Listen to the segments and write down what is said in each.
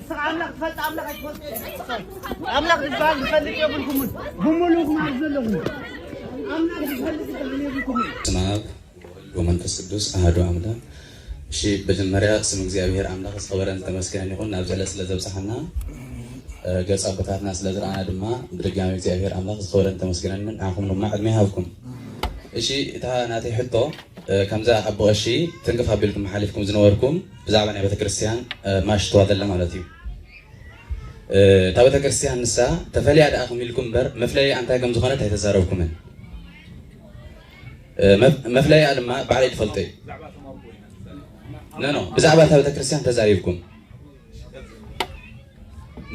ስቕ ኣምላኽ ትፈልጥ ኣምላኽ ኣይትፈልጡ የለን ኣምላኽ ዝበሃል ዝፈልጥ የብልኩምን ብምሉእ ማለት ዘለኹም ኣምላኽ ዝፈልጥ ዝበሃል የብልኩምን በስመ አብ ወመንፈስ ቅዱስ አሐዱ አምላክ። እሺ መጀመሪያ ስም እግዚኣብሔር አምላክ ዝኸበረን ተመስገነን ይኹን ናብ ዘለ ስለ ዘብፅሓና ገፅ ኣቦታትና ስለ ዝረኣና ድማ ብድጋሚ እግዚኣብሔር ኣምላክ ዝኸበረን ተመስገነን ንዓኹም ድማ ዕድመ ይሃብኩም። እሺ እታ ናተይ ሕቶ ከምዛ ኣቦ ቀሺ ትንክፍ ኣቢልኩም ሓሊፍኩም ዝነበርኩም ብዛዕባ ናይ ቤተክርስትያን ማሽ ተዋደላ ማለት እዩ እታ ቤተክርስትያን ንሳ ተፈልያ ደኣ ክም ኢልኩም እምበር መፍለይኣ እንታይ ከም ዝኾነት ኣይተዛረብኩምን መፍለይኣ ድማ ባዕለይ ትፈልጦ እዩ ነኖ ብዛዕባ እታ ቤተክርስትያን ተዛሪብኩም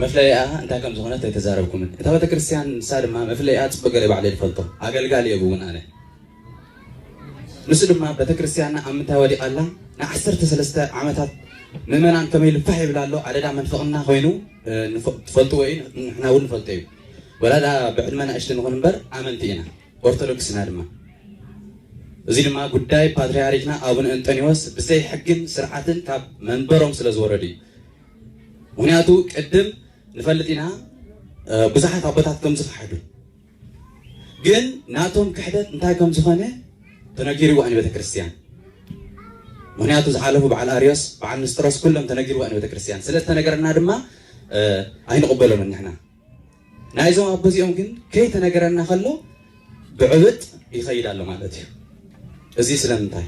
መፍለይኣ እንታይ ከም ዝኾነት ኣይተዛረብኩምን እታ ቤተክርስትያን ንሳ ድማ መፍለይኣ ፅቡቅ ገለ ባዕለይ ትፈልጦ ኣገልጋሊ እየ ብውን ኣነ ንሱ ድማ ቤተክርስትያንና ኣብ ምንታይ ወዲቓ ኣላ፣ ንዓሰርተ ሰለስተ ዓመታት ምእመናን ከመይ ኢሉ ፋሕ ይብል ኣሎ፣ ኣደዳ መንፍቕና ኮይኑ ትፈልጥዎ እዩ፣ ንሕና እውን ንፈልጦ እዩ። ወላ ድኣ ብዕድመ ናእሽቲ ንኹን እምበር ኣመንቲ ኢና፣ ኦርቶዶክስ ኢና ድማ። እዚ ድማ ጉዳይ ፓትርያርክና ኣቡነ እንጠንዮስ ብዘይ ሕግን ስርዓትን ካብ መንበሮም ስለ ዝወረዱ እዩ። ምክንያቱ ቅድም ንፈልጥ ኢና ብዙሓት ኣቦታት ከም ዝኸሓዱ ግን ናቶም ክሕደት እንታይ ከም ዝኾነ ተነጊርዋ ንቤተክርስትያን ምክንያቱ ዝሓለፉ በዓል ኣርዮስ በዓል ንስጥሮስ ኩሎም ተነጊርዋ ንቤተክርስትያን ስለ ዝተነገረና ድማ ኣይንቕበሎምን ንሕና ናይዞም ኣቦ እዚኦም ግን ከይተነገረና ከሎ ብዕብጥ ይኸይድ ኣሎ ማለት እዩ እዚ ስለምንታይ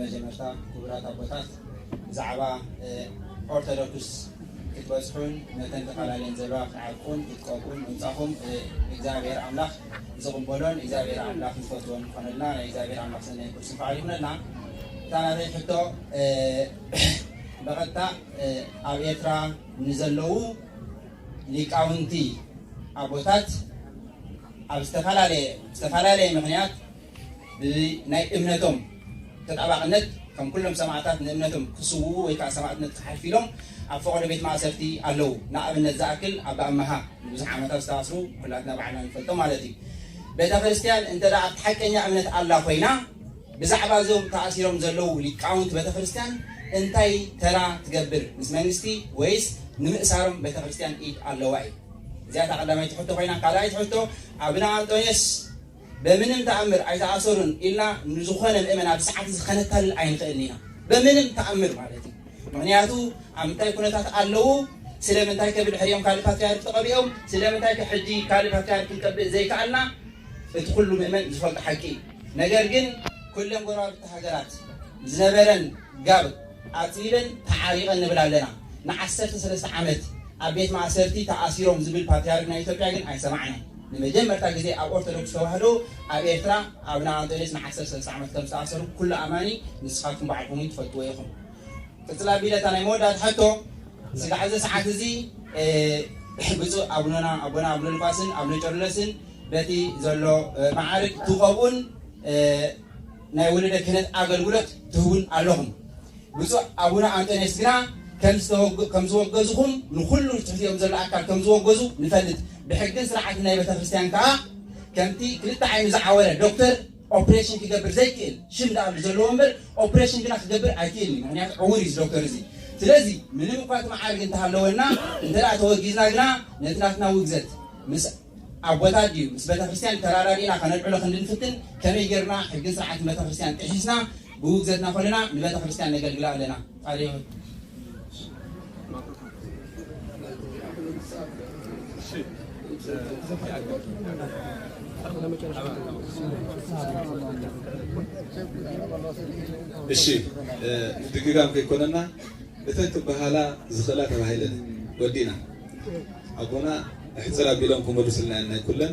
መጀመርታ ክቡራት ኣቦታት ብዛዕባ ኦርቶዶክስ ክትበፅሑን ነተን ተፈላለየን ዘለዋ ክትዓቁን ክትቀቁን ምምፃኹም እግዚኣብሔር ኣምላኽ ዝቕበሎን እግዚኣብሔር ኣምላኽ ዝፈትዎን ዝኾነልና ናይ እግዚኣብሔር ኣምላኽ ሰናይ ቅዱስ በዓል ይኹነልና። እታ ናተይ ሕቶ ብቐጥታ ኣብ ኤርትራ ንዘለዉ ሊቃውንቲ ኣቦታት ኣብ ዝተፈላለየ ዝተፈላለየ ምክንያት ብናይ እምነቶም ተጣባቕነት ከም ኩሎም ሰማዕታት ንእምነቶም ክስውኡ ወይ ከዓ ሰማዕትነት ክሓልፍ ኢሎም ኣብ ፈቐዶ ቤት ማእሰርቲ ኣለዉ። ንኣብነት ዝኣክል ኣባ ኣመሃ ንብዙሕ ዓመታት ዝተኣስሩ ኩላትና ባዕልና ንፈልጦ ማለት እዩ። ቤተ ክርስቲያን እንተ ኣብቲ ሓቀኛ እምነት ኣላ ኮይና ብዛዕባ እዞም ተኣሲሮም ዘለዉ ሊቃውንቲ ቤተ ክርስቲያን እንታይ ተራ ትገብር? ምስ መንግስቲ ወይስ ንምእሳሮም ቤተ ክርስቲያን ኢድ ኣለዋ እዩ? እዚኣታ ቀዳማይቲ ሕቶ ኮይና ካልኣይቲ ሕቶ ኣብነ ኣንጦንዮስ በምንም ተኣምር ኣይተኣሰሩን ኢልና ንዝኾነ ምእመን ኣብ ሰዓት እዚ ከነታልል ኣይንኽእልን ኢና። በምንም ተኣምር ማለት እዩ። ምክንያቱ ኣብ ምንታይ ኩነታት ኣለዉ ስለምንታይ ከ ብድሕሪኦም ካልእ ፓትርያርክ ተቐቢኦም ስለምንታይ ከ ሕጂ ካልእ ፓትርያርክ ክንቀብእ ዘይከኣልና እቲ ኩሉ ምእመን ዝፈልጦ ሓቂ እዩ። ነገር ግን ኩለን ጎረባብቲ ሃገራት ዝነበረን ጋብ ኣፅቢበን ተዓሪቐን ንብል ኣለና። ንዓሰርተ ሰለስተ ዓመት ኣብ ቤት ማእሰርቲ ተኣሲሮም ዝብል ፓትርያርክ ናይ ኢትዮጵያ ግን ኣይሰማዕናን። ንመጀመርታ ግዜ ኣብ ኦርቶዶክስ ተዋህዶ ኣብ ኤርትራ ኣቡነ ኣንጦንዮስ ንዓሰርተ ሰለስተ ዓመት ከም ዝተኣሰሩ ኩሉ ኣማኒ ንስኻትኩም ባዕልኩም ውን ትፈልጥዎ ኢኹም። ቅጽል ኣቢለ እታ ናይ መወዳእታ ሕቶ ስጋዕ እዚ ሰዓት እዚ ብፁዕ ኣቡነና ኣቦና ኣቡነ ሉቃስን ኣቡነ ቄርሎስን በቲ ዘሎ መዓርግ ትኸቡን ናይ ወለደ ክህነት ኣገልግሎት ትህቡን ኣለኹም። ብፁዕ ኣቡነ ኣንጦንዮስ ግና ከም ዝወገዙኹም ንኹሉ ትሕቲኦም ዘሎ ኣካል ከም ዝወገዙ ንፈልጥ ብሕግን ስርዓትን ናይ ቤተክርስትያን ከኣ ከምቲ ክልተ ዓይኑ ዝዓወረ ዶክተር ኦፕሬሽን ክገብር ዘይክእል ሽም ደኣሉ ዘለዎ እምበር ኦፕሬሽን ግና ክገብር ኣይክእልን እዩ ምክንያቱ ዕውር እዩ ዶክተር እዚ ስለዚ ምንም እኳ እቲ መዓርግ እንተሃለወና እንተ ተወጊዝና ግና ነቲ ናትና ውግዘት ምስ ኣቦታት ድዩ ምስ ቤተክርስትያን ተራዳዲእና ከነልዕሎ ክንዲ ንፍትን ከመይ ጌርና ሕግን ስርዓትን ቤተክርስትያን ጥሒስና ብውግዘትና ኮለና ንበተክርስትያን ነገልግላ ኣለና ጣልዮን እሺ ድግጋም ከይኮነና እተን ክበሃላ ዝኽእላ ተባሂለን ወዲእና ኣቦና ሕፅር ኣቢሎም ክመልሱልና ናይ ኩለን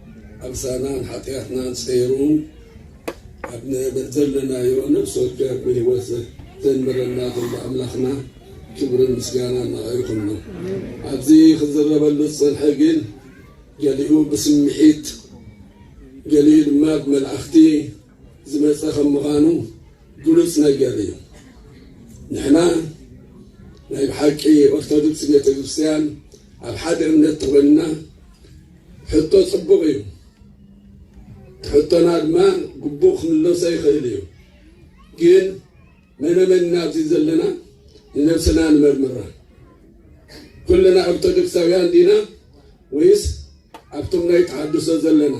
ዓመፃናን ሓጥያትናን ፀይሩ ኣብ ንእመን ዘለናዮ ነብሲ ወከፍ ብህይወት ዘንብረና ዘሎ ኣምላኽና ክብርን ምስጋናን ንዕኡ ይኹኖ። ኣብዚ ክዝረበሉ ዝፀንሐ ግን ገሊኡ ብስምዒት ገሊኡ ድማ ብመልኣኽቲ ዝመፀ ከም ምዃኑ ግሉፅ ነገር እዩ። ንሕና ናይ ብሓቂ ኦርቶዶክስ ቤተክርስትያን ኣብ ሓደ እምነት ተኾይንና ሕቶ ጽቡቕ እዩ። ሕቶና ድማ ግቡእ ክምለሶ ይኽእል እዩ። ግን መነመን ኢና ኣብዚ ዘለና ንነብስና ንመርምራ። ኩልና ኦርቶዶክሳውያን ዲና ወይስ ኣብቶም ናይ ተሓድሶ ዘለና?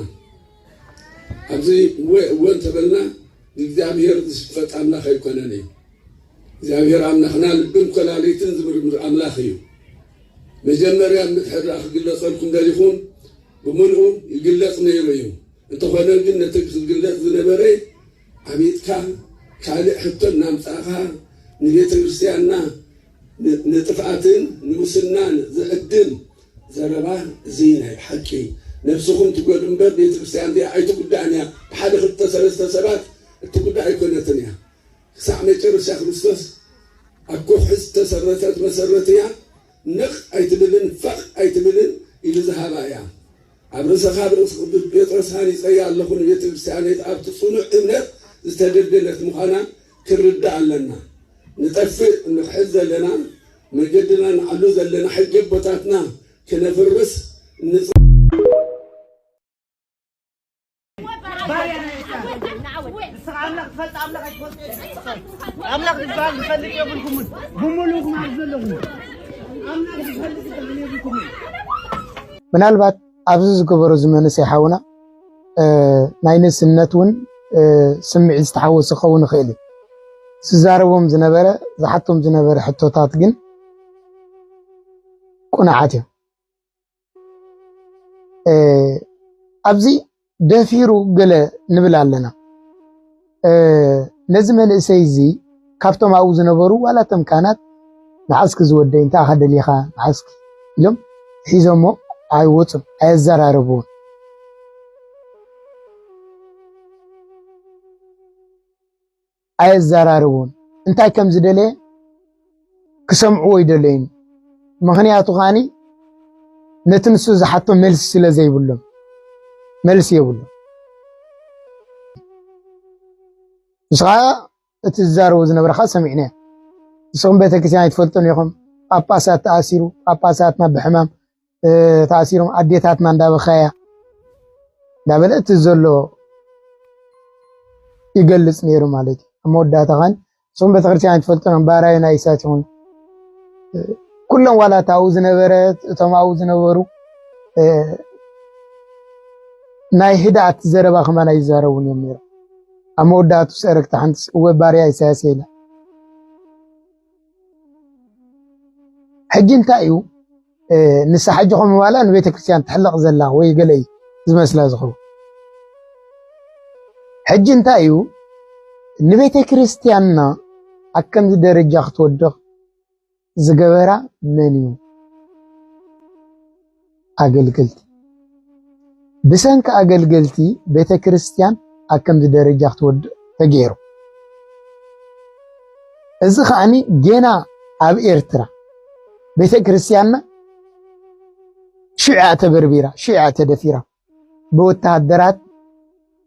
ኣብዚ እወ እወ እንተበልና ንእግዚኣብሔር ዝሽፈጥ ኣምላኽ ኣይኮነን እዩ። እግዚኣብሔር ኣምላኽና ልብን ኮላሊትን ዝምርምር ኣምላኽ እዩ። መጀመርያ ምትሕርራእ ክግለጸልኩም ደሊኹም ብምልኡ ይግለጽ ነይሩ እዩ እንተኾነ ግን ነቲ ክግለጽ ዝነበረ ዓቢጥካ ካልእ ሕቶ እናምጻእኻ ንቤተ ክርስትያንና ንጥፍኣትን ንሙስናን ዝዕድም ዘረባ እዚ ናይ ብሓቂ ነብስኹም ትጎድኡ እምበር ቤተ ክርስትያን እዚኣ ኣይትጉዳእን እያ ብሓደ ክልተ ሰለስተ ሰባት እትጉዳእ ኣይኮነትን እያ ክሳዕ መጨረሻ ክርስቶስ ኣብ ከውሒ ዝተሰረተት መሰረት እያ፣ ነቕ ኣይትብልን ፈቕ ኣይትብልን ኢሉ ዝሃባ እያ። ኣብ ርእሰኻ ብርእሲ ቅዱስ ጴጥሮስ ሃኒጸያ ኣለኹ ንቤተ ክርስቲያነይት ኣብቲ ጽኑዕ እምነት ዝተደልደለት ምዃና ክንርዳእ ኣለና። ንጠፍእ እንኽሕድ ዘለና መገድና ንዓሉ ዘለና ሕጊ ኣቦታትና ክነፍርስ እንጽዕር። ምናልባት ኣብዚ ዝገበሮ እዚ መንእሰይ ሓውና ናይ ንእስነት እውን ስምዒት ዝተሓወሶ ክኸውን ይኽእል እዩ ዝዛረቦም ዝነበረ ዝሓቶም ዝነበረ ሕቶታት ግን ቁኑዓት እዮም ኣብዚ ደፊሩ ገለ ንብል ኣለና ነዚ መንእሰይ እዚ ካብቶም ኣብኡ ዝነበሩ ዋላ እቶም ካህናት መዓስኪ ዝወደይ እንታይ ኢኻ ደሊኻ መዓስኪ ኢሎም ሒዞሞ ኣይወፁን ኣየዘራረብዎን ኣየዘራርቦን እንታይ ከም ዝደለየ ክሰምዕዎ ይደለዩን ምኽንያቱ ኻኒ ነቲ ንሱ ዝሓቶ መልሲ ስለ ዘይብሎም መልሲ የብሎም። ንስኻ እቲ ዝዛረቡ ዝነበረኻ ሰሚዕና ንስኹም ቤተክርስትያን ኣይትፈልጡን ኢኹም። ጳጳሳት ተኣሲሩ ጳጳሳትና ብሕማም ተኣሲሮም ኣዴታትና እንዳበኸያ እንዳበለ እቲ ዘሎ ይገልጽ ነይሩ ማለት እዩ ኣብ መወዳእታ ኸን እሱም ቤተክርስትያን ትፈልጡን ባራዩ ናይ እሳት ይኹን ኩሎም ዋላ እታ ኣብኡ ዝነበረት እቶም ኣብኡ ዝነበሩ ናይ ህድኣት ዘረባ ከማን ኣይዛረቡን እዮም ነይሮም ኣብ መወዳእቱ ሰረክቲ ሓንቲ እወ ባርያ ኢሳያስ ኢላ ሕጂ እንታይ እዩ ንሳ ሕጂ ከም ዋላ ንቤተክርስትያን ትሕለቕ ዘላ ወይ ገለ እዩ ዝመስላ ዝኸውን። ሕጂ እንታይ እዩ ንቤተክርስትያንና ኣብ ከምዚ ደረጃ ክትወድቕ ዝገበራ መን እዩ? ኣገልገልቲ ብሰንኪ ኣገልገልቲ ቤተ ክርስቲያን ኣብ ከምዚ ደረጃ ክትወድቕ ተገይሩ። እዚ ከዓኒ ጌና ኣብ ኤርትራ ቤተ ክርስቲያንና ሽዑ ተበርቢራ ሽዑ ተደፊራ ብወተሃደራት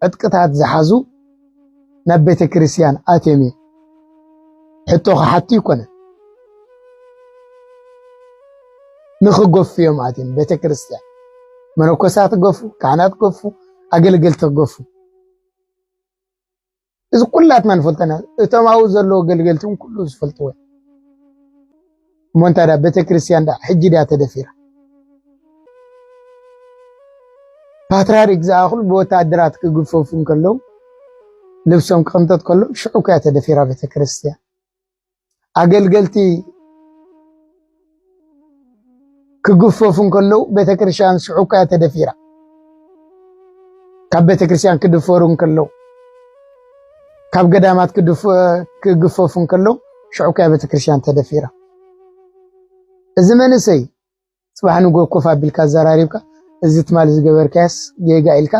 ዕጥቅታት ዝሓዙ ናብ ቤተ ክርስቲያን ኣትዮም እዮም ሕቶ ክሓቱ ይኮነ ንክገፉ እዮም ኣትዮም ቤተ ክርስቲያን መነኮሳት ገፉ፣ ካህናት ገፉ፣ ኣገልገልቲ ገፉ። እዚ ኩላትና ንፈልጦ ኢና እቶም ኣብኡ ዘለዉ ገልገልቲ እውን ኩሉ ዝፈልጥዎ እሞ እንታይ ዳ ቤተክርስትያን ዳ ሕጂ ድያ ተደፊራ ፓትርያርክ ዝኣኽሉ ብወታደራት ክግፈፉ እንከለዉ ልብሶም ክቕንጠጥ ከሎ ሽዑ ከያ ተደፊራ ቤተክርስትያን ኣገልገልቲ ክግፈፉ እንከለዉ ቤተ ክርስቲያን ስሑኳ እያ ተደፊራ ካብ ቤተ ክርስቲያን ክድፈሩ እንከለዉ ካብ ገዳማት ክግፈፉ እንከለዉ ሽዑኳ ቤተ ክርስቲያን ተደፊራ እዚ መንእሰይ ጽባሕ ንግሆ ኮፍ ኣቢልካ ኣዘራሪብካ እዚ ትማሊ ዝገበርካዮስ ጌጋ ኢልካ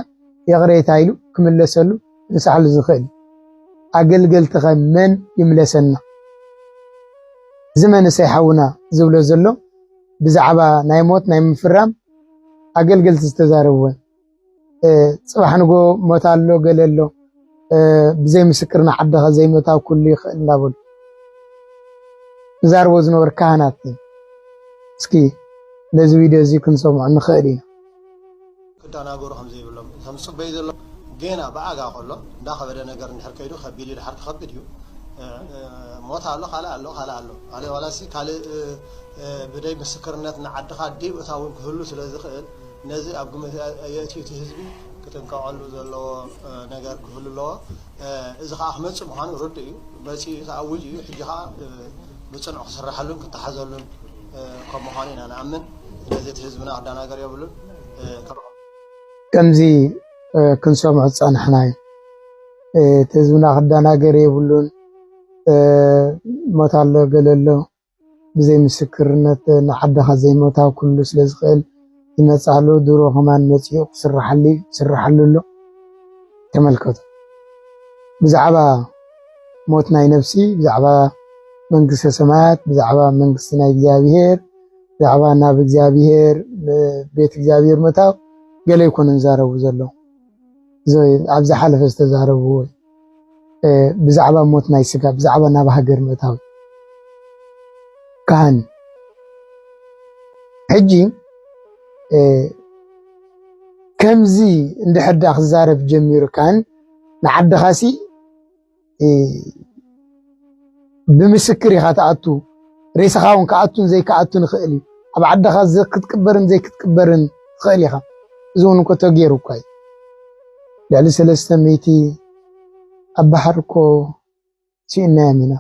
ይቕሬታ ኢሉ ክምለሰሉ ክንስሓሉ ዝኽእል እዩ። ኣገልገልቲኸ መን ይምለሰና? እዚ መንእሰይ ሓውና ዝብሎ ዘሎ ብዛዕባ ናይ ሞት ናይ ምፍራም ኣገልገልቲ ዝተዛረብወን ፅባሕ ንጎ ሞት ኣሎ ገለ ኣሎ ብዘይ ምስክር ንዓድኻ ዘይምእታው ኩሉ ይኽእል እንዳበሉ ዝዛርቦ ዝነበሩ ካህናት እስኪ ነዚ ቪድዮ እዚ ክንሰምዖ ንኽእል ኢና ክደናገሩ ከም ዘይብሎም ከም ዝፅበዩ ዘሎ ጌና ብኣጋ ከሎ እንዳኸበደ ነገር እንድሕር ከይዱ ከቢድ እዩ ድሓር ክኸብድ እዩ ሞት ኣሎ ካልእ ኣሎ ካልእ ኣሎ ማለት ዋላሲ ካልእ ብደይ ምስክርነት ንዓድኻ ደይእታውን ክህሉ ስለ ዝኽእል ነዚ ኣብ ግምት የእትዩ እቲ ህዝቢ ክጥንቀቐሉ ዘለዎ ነገር ክህሉ ኣለዎ። እዚ ከኣ ክመጽእ ምዃኑ ርዱእ እዩ። መጺኡ እዩ፣ ተኣዊጁ እዩ። ሕጂ ከኣ ብጽኑዕ ክስረሐሉን ክተሓዘሉን ከም ምዃኑ ኢና ንኣምን። ስለዚ እቲ ህዝብና ክደናገር የብሉን። ከምዚ ክንሰምዖ ዝጸናሕና እዩ። እቲ ህዝብና ክደናገር የብሉን፣ ሞት ኣሎ ገለ ኣሎ ብዘይ ምስክርነት ንዓድኻ ዘይሞታ ኩሉ ስለ ዝኽእል ይመጽኣ ኣሎ ድሮ ከማን መጺኡ ክስርሓሉ ዩ ይስርሓሉ ኣሎ ተመልከቱ ብዛዕባ ሞት ናይ ነብሲ ብዛዕባ መንግስተ ሰማያት ብዛዕባ መንግስቲ ናይ እግዚኣብሄር ብዛዕባ ናብ እግዚኣብሄር ቤት እግዚኣብሄር ምእታው ገለ ይኮኑ ዝዛረቡ ዘለዉ ኣብዚ ሓለፈ ዝተዛረብዎ ብዛዕባ ሞት ናይ ስጋ ብዛዕባ ናብ ሃገር ምእታው ካህን ሕጂ ከምዚ እንድሕር ክዛረብ ጀሚሩ ካህን ንዓድኻሲ ብምስክር ኢኻ ትኣቱ ሬሳኻ ውን ክኣቱን ዘይክኣቱን ይኽእል እዩ ኣብ ዓድኻ ክትቅበርን ዘይክትቅበርን ትኽእል ኢኻ እዚ ውን እኮ ተገይሩ እኳ እዩ ልዕሊ ሰለስተ ሚእቲ ኣብ ባሕሪ እኮ ስኢናዮም ኢና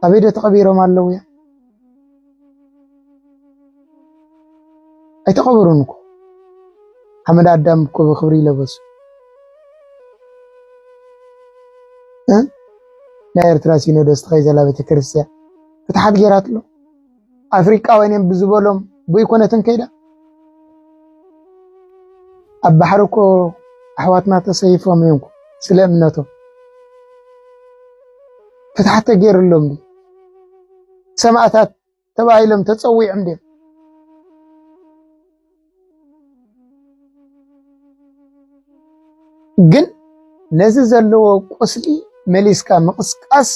ኣበይ ዶ ተቐቢሮም ኣለውያ ኣይተቐበሩን እኮ ሓመድ ኣዳም እኮ ብክብሪ ይለበሱ ናይ ኤርትራ ሲኖዶስ ተኸይዘላ ቤተክርስትያን ፍትሓት ገይራትሎ ኣፍሪቃውያን እዮም ብዝበሎም ብይኮነትን ከይዳ ኣብ ባሕሪ እኮ ኣሕዋትና ተሰይፎም እዮም ስለ እምነቶም ፍትሓት ተገይርሎም ሰማእታት ተባሂሎም ተጸዊዖም ድዮም? ግን ነዚ ዘለዎ ቁስሊ መሊስካ ምቕስቃስ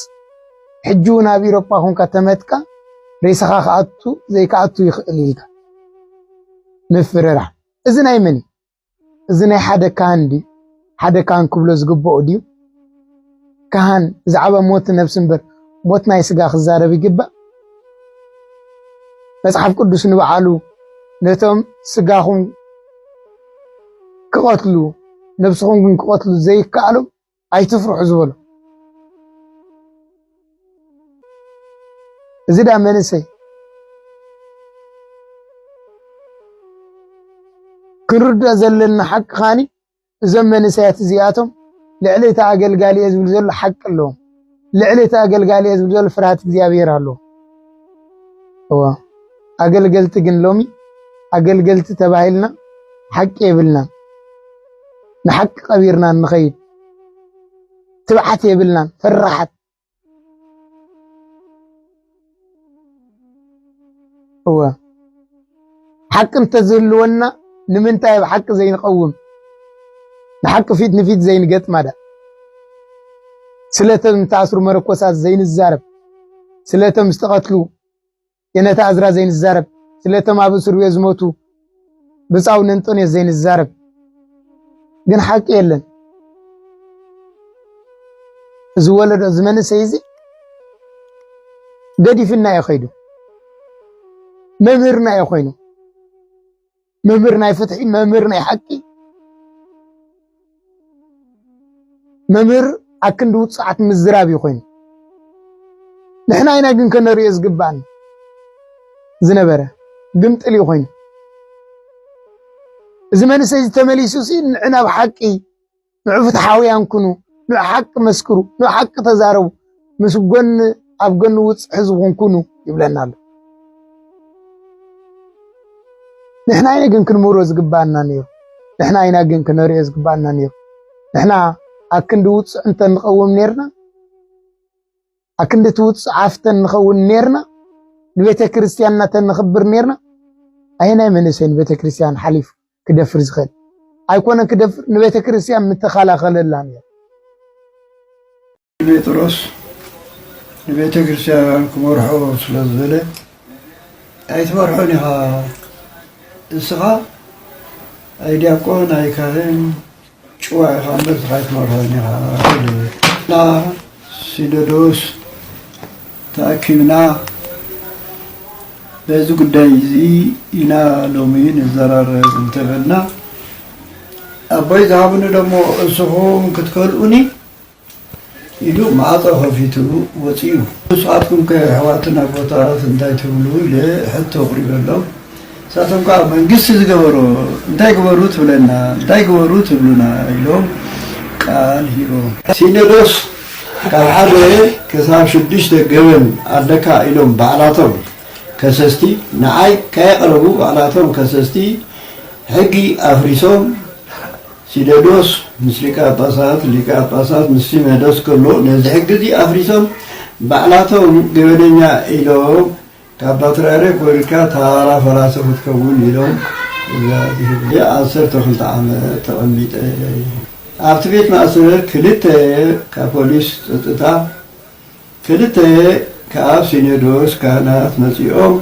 ሕጂ እውን ኣብ ኢሮፓ ኮንካ ተመትካ ሬሳኻ ክኣቱ ዘይክኣቱ ይኽእል ኢልካ ምፍርራህ እዚ ናይ መን እዩ? እዚ ናይ ሓደ ካህን ድዩ? ሓደ ካህን ክብሎ ዝግብኦ ድዩ? ካህን ብዛዕባ ሞት ነብሲ እምበር ሞት ናይ ስጋ ክዛረብ ይግባእ? መጽሓፍ ቅዱስ ንበዓሉ ነቶም ስጋኹም ክቐትሉ ነብስኹም ግን ክቐትሉ ዘይከኣሎም ኣይትፍርሑ ዝበሎ እዚ ዳ መንእሰይ ክንርድኦ ዘለና ሓቂ ካኒ እዞም መንእሰያት እዚኣቶም ልዕሊ እቲ ኣገልጋሊ እየ ዝብል ዘሎ ሓቂ ኣለዎም። ልዕሊ እቲ ኣገልጋሊ እየ ዝብል ዘሎ ፍርሃት እግዚኣብሔር ኣሎ። እወ ኣገልገልቲ ግን ሎሚ ኣገልገልቲ ተባሂልና ሓቂ የብልናን፣ ንሓቂ ቀቢርና ንኸይድ ትብዓት የብልናን፣ ፈራሓት እወ ሓቂ እንተዝህልወና ንምንታይ ኣብ ሓቂ ዘይንቐውም ንሓቂ ፊት ንፊት ዘይንገጥማዳ ስለቶም ዝተኣስሩ መረኮሳት ዘይንዛረብ ስለቶም ዝተቐትሉ የነታ እዝራ ዘይንዛረብ ስለቶም ኣብ እስር ቤት ዝሞቱ ብጻውን እንጦንዮስ ዘይንዛረብ ግን ሓቂ የለን። እዚ ወለዶ እዚ መንእሰይ እዚ ገዲፍና እዩ ከይዱ። መምህርና እዩ ኮይኑ መምህር ናይ ፍትሒ መምህር ናይ ሓቂ መምህር ኣብ ክንዲ ውፅዓት ምዝራብ እዩ ኮይኑ ንሕና ኢና ግን ከነርእዮ ዝግባእን ዝነበረ ግምጥል እዩ ኮይኑ እዚ መንእሰይ እዚ ተመሊሱ ሲ ንዕ ናብ ሓቂ ንዕ ፍትሓውያን ኩኑ ንዕ ሓቂ መስክሩ ንዕ ሓቂ ተዛረቡ ምስ ጎኒ ኣብ ጎኒ ውፅዕ ህዝብኹም ኩኑ ይብለና ኣሎ። ንሕና ኢና ግን ክንምህሮ ዝግባኣና ነይሩ። ንሕና ኢና ግን ክነሪኦ ዝግባኣና ነይሩ። ንሕና ኣብ ክንዲ ውፅዕ እንተ ንቐውም ነርና ኣብ ክንዲ እቲ ውፅዕ ኣፍተ ንኸውን ነርና ንቤተ ክርስቲያንና ተንኽብር ነርና ኣየናይ መንእሰይ ንቤተ ክርስቲያን ሓሊፉ ክደፍር ዝኽእል ኣይኮነን ክደፍር ንቤተ ክርስቲያን ምተኸላኸለላ ነይሩ ጴጥሮስ ንቤተ ክርስቲያን ክመርሖ ስለ ዝበለ ኣይትመርሖን ኢኻ እስኻ ኣይዲያቆን ኣይካህን ጭዋ ኢኻ እምበር እስኻ ኣይትመርሖን ኢኻ ሲኖዶስ ተኣኪብና በዚ ጉዳይ እዚ ኢና ሎሚ ንዘራረብ እንተበልና ኣቦይ ዝሃብኒ ደሞ እስኹም ክትከልኡኒ ኢሉ ማዕጾ ከፊቱ ወጺኡ። ንስኻትኩምከ ኣሕዋትና ጎተራት እንታይ ትብሉ ኢለ ሕቶ ኣቕሪበሎም። ንሳቶም ከኣ መንግስቲ ዝገበሮ እንታይ ግበሩ ትብለና እንታይ ግበሩ ትብሉና ኢሎም ቃል ሂቦም። ሲኖዶስ ካብ ሓደ ክሳብ ሽዱሽተ ገበን ኣለካ ኢሎም ባዕላቶም ከሰስቲ ንዓይ ከየቕረቡ ባዕላቶም ከሰስቲ ሕጊ ኣፍሪሶም ሲነዶስ ምስ ሊቀ ጳጳሳት፣ ሊቀ ጳጳሳት ምስ ሲነዶስ ከሎ ነዚ ሕጊ እዚ ኣፍሪሶም ባዕላቶም ገበነኛ ኢሎም ካብ ፓትርያርክ ኮይንካ ታራ ፈራሲ ክትከውን ኢሎም ትእዛዝ ይህቡ። ዓሰርተ ክልተ ዓመት ተቐሚጠ ኣብቲ ቤት ማእሰር ክልተ ካብ ፖሊስ ጸጥታ፣ ክልተ ካብ ሲኖዶስ ካህናት መጺኦም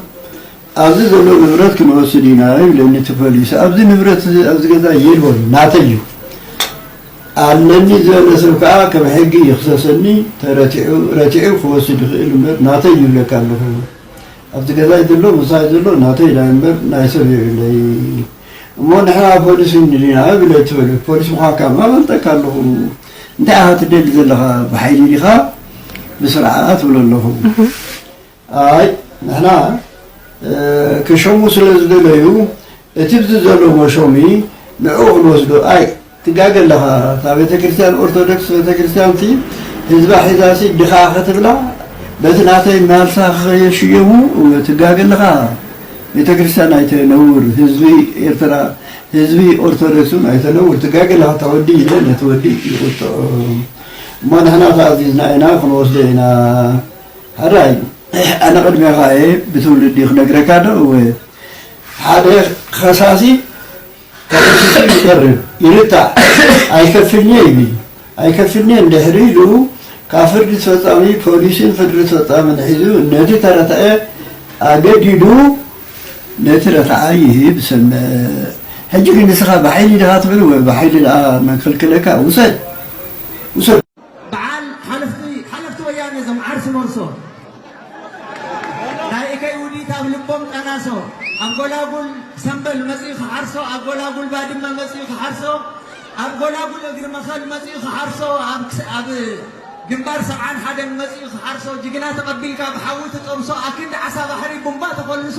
ኣብዚ ዘሎ ንብረት ክንወስድ ኢና ይብለኒ እቲ ፖሊስ ኣብዚ ንብረት እዚ ኣብዚ ገዛ የልቦን ናተይ እዩ ኣለኒ ዝበለ ሰብ ከኣ ከም ሕጊ ይኽሰሰኒ ተረቲዑ ረቲዑ ክወስድ ይኽእል እምበር ናተይ ይብለካ ኣለኹ ኣብዚ ገዛይ ዘሎ ምሳይ ዘሎ ናተይ ናይ እምበር ናይ ሰብ የብለይ እሞ ንሕና ፖሊስ እንድና ብለ ትበለ ፖሊስ ምዃንካ ማ ፈልጠካ ኣለኹ እንታይ ኢኻ ትደሊ ዘለኻ ብሓይሊ ዲኻ ብስርዓት ትብሎ ኣለኹ ኣይ ንሕና ክሸሙ ስለ ዝደለዩ እቲ ብዚ ዘሎ መሾሚ ንዕኡ ክንወስዶ ኣይ ትጋገ ኣለኻ እታ ቤተክርስትያን ኦርቶዶክስ ቤተክርስትያንሲ ህዝባ ሒዛሲ ድኻ ክትብላ በቲ ናተይ ማርሳ ከየሽየሙ ትጋገ ኣለኻ ቤተክርስትያን ኣይተነውር ህዝቢ ኤርትራ ህዝቢ ኦርቶዶክስ ውን ኣይተነውር ትጋገ ኣለኻ እታ ወዲ ኢለ ነቲ ወዲ ይቁጥዖ እሞ ንሕና ተኣዚዝና ኢና ክንወስዶ ኢና ሕራይ ኣነ ቅድሜኻ እየ ብትውልዲ ክነግረካ ዶ እወ ሓደ ከሳሲ ተኸሲሱ ይቐርብ፣ ይርታዕ፣ ኣይከፍልን'የ ይብል። ኣይከፍልን'የ እንድሕሪ ኢሉ፣ ካብ ፍርዲ ኣስፈጻሚ ፖሊስን ፍርዲ ኣስፈጻምን ሒዙ ነቲ ተረታዒ ኣገዲዱ ነቲ ረታዓይ ይህብ ይሰምዕ። ሕጂ ግን ንስኻ ብሓይሊ ዲኻ ትብል ወይ ብሓይሊ ድኣ መን ከልከለካ ውሰድ ውሰድ። በዓል ሓለፍቲ ሓለፍቲ ወያኔ ዞም ዓርሱ መርሶ ናይ እከይ ውዲት ኣብ ልቦም ጠናሶ ኣብ ጎላጉል ሰምበል መጺኡ ክሓርሶ ኣብ ጎላጉል ባድመ መጺኡ ክሓርሶ ኣብ ጎላጉል እግሪ መኸል መጺኡ ክሓርሶ ኣብ ግንባር ሰብዓን ሓደን መጺኡ ክሓርሶ ጅግና ተቐቢልካ ብሓዊ ትጠብሶ ኣክንዲ ዓሳ ባሕሪ ቡምባ ተኾልሶ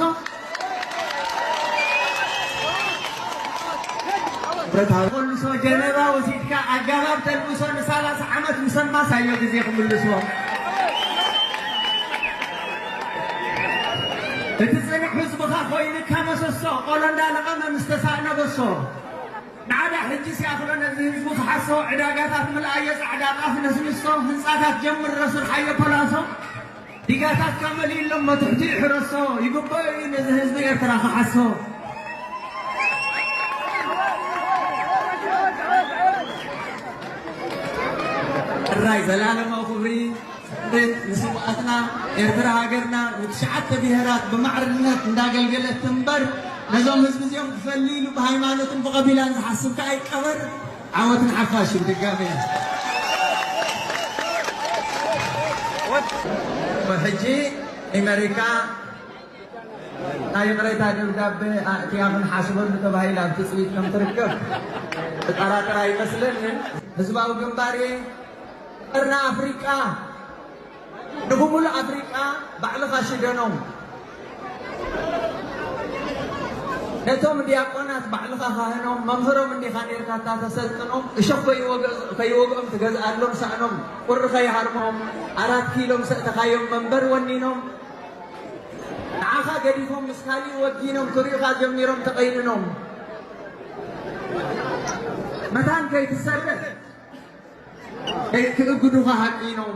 ብረታዊ ተልእሶ ጀነባ ወሲድካ ኣጋባብ ተልእሶ ንሳላሳ ዓመት ምስ ኣማሳዮ ግዜ ክምልሶ እቲ ፅንዕ ህዝብኻ ኮይንካ መሰሶ ቆሎ እንዳለቐመ ምስ ተሳእነ በሶ ንዓዳ ሕጂ ሲኣኽሎ ነዚ ህዝቢ ክሓሶ ዕዳጋታት ምልኣዮ ፃዕዳ ጣፍ ነስንሶ ህንፃታት ጀምሮ ስርሓዮ ፖላሶ ዲጋታትካ መሊእሎም መትሕቲኡ ሕረሶ ይግበኦ እዩ ነዚ ህዝቢ ኤርትራ ክሓሶ። ጥራይ ዘላለማዊ ክብሪ ንስውኣትና ኤርትራ ሃገርና ንትሽዓተ ብሄራት ብማዕርነት እንዳገልገለት ትንበር ነዞም ህዝቢ እዚኦም ክፈሊ ኢሉ ብሃይማኖትን ብቐቢላን ዝሓስብ ከኣ ይቀበር ዓወት ንሓፋሽ ብድጋሜ። ብሕጂ ኢመሪካ ናይ ይቕሬታ ደብዳበ ኣእትያ ክንሓስበሉ ተባሂላ ኣብ ትጽቢት ከም ትርከብ ዘጠራጥር ኣይመስለንን። ህዝባዊ ግንባር'የ ቀርኒ ኣፍሪቃ! ንብሙሉእ ኣፍሪቃ ባዕልኻ ሽደኖም ነቶም ዲያቆናት ባዕልኻ ካህኖም መምህሮም እንዲኻ ኔርካ እታ ተሰልጥኖም እሾኽ ከይወገ- ከይወግኦም ትገዝኣሎም ሳእኖም ቁሪ ከይሃርሞም ኣራት ኪሎም ሰእተኻዮም መንበር ወኒኖም ንዓኻ ገዲፎም ምስ ካሊእ ወጊኖም ክሪኡኻ ጀሚሮም ተቐይንኖም መታን ከይትሰርሕ ክእግዱኻ ሃቂኖም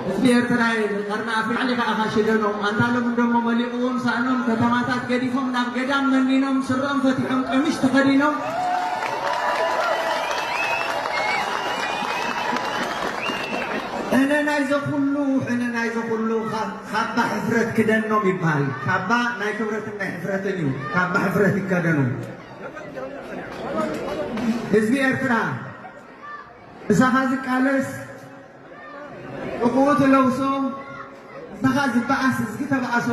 ህዝቢ ኤርትራ ቀርኒ ኣፍሪቃ ሊኻ ኢኻ ሽደኖም ኣንታሎም እንደሞ መሊቕዎም ሳእኖም ከተማታት ገዲፎም ናብ ገዳም መኒኖም ስረኦም ፈቲሖም ቀሚሽ ተኸዲኖም ሕነ ናይ ዘኹሉ ሕነ ናይ ዘኹሉ ካባ ሕፍረት ክደኖም ይበሃል። ካባ ናይ ክብረትን ናይ ሕፍረትን እዩ። ካባ ሕፍረት ይከደኑ። ህዝቢ ኤርትራ ምሳኻ ዝቃለስ ጥቕኡ ትለውሶ ምሳኻ ዝበኣስ እዝጊ ተበኣሶ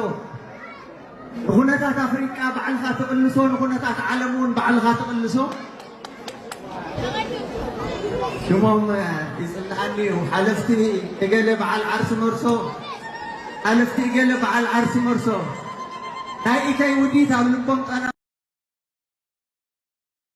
ንኹነታት ኣፍሪቃ ባዕልኻ ትቕልሶ ንኹነታት ዓለም እውን ባዕልኻ ትቕልሶ ሽሞም ይጽልኣኒ እዩ ሓለፍቲ እገለ በዓል ዓርሲ መርሶ ሓለፍቲ እገለ በዓል ዓርሲ መርሶ ናይ ኢተይ ውዲት ኣብ ልቦም ጠና።